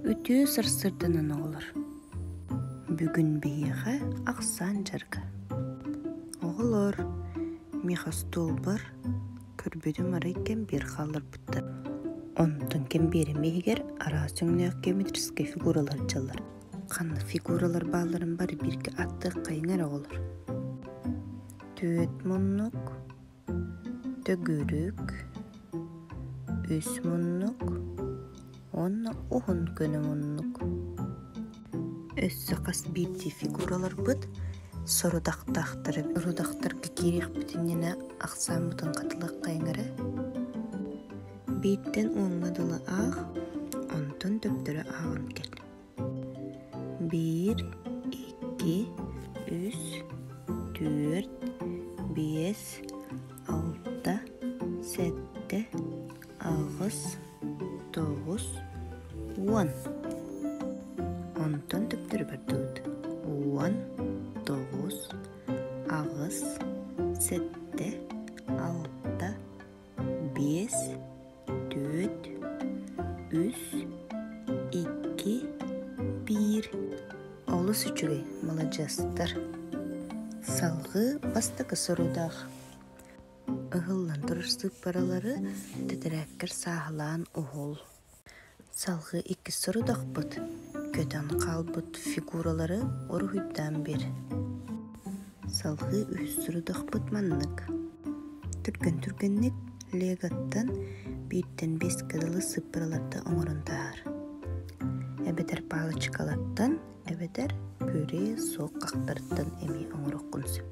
Үтүө сарсыарданан оҕолор, бүгүн биһиэхэ ахсаан дьарыга. Оҕолор, миэхэ остуолбар көрбүтүм арай кэм биэр хаалларбыттар. Онтон кэм биэрэм иһигэр араас өҥнөөх геометрическай фигуралар дьаллар. Ханнык фигуралар баалларын бары бииргэ аттыаххайыҥ эрэ оҕолор. Түөт муннук, төгүрүк үс муннук уонна уһун көнө муннук өссө хас биирдии фигураларбыт сорудахтаахтары родахтарга киириэхпит иннинэ ахсааммытын хатылыаххайыҥ эрэ бииртэн уоҥҥа дылы аах онтон төптөрү ааҕан кэл биир икки үс түөрт биэс алта сэттэ аҕыс тоҕус уон онтон төптөрү бардыбыт уон тоҕус аҕыс сэттэ алта биэс түөрт үс икки биир олус үчүгэй маладьыастар салгыы бастакы сорудаах ыһыллан турар сыыппаралары тэтэрээккэр сааһылаан уһул Салгыы иккис сорудахпыт көтөн хаалбыт фигуралары уруһуйдаан биэр Салгыы үһүс сорудахпыт маннык. Түргэн түргэнник Леготтан бииртэн биэскэ дылы сыппыраларда оҥорон таһаар. Эбэтэр палочкалартан эбэтэр пюре суох хахтарыттан эмиэ оҥороххун сөп.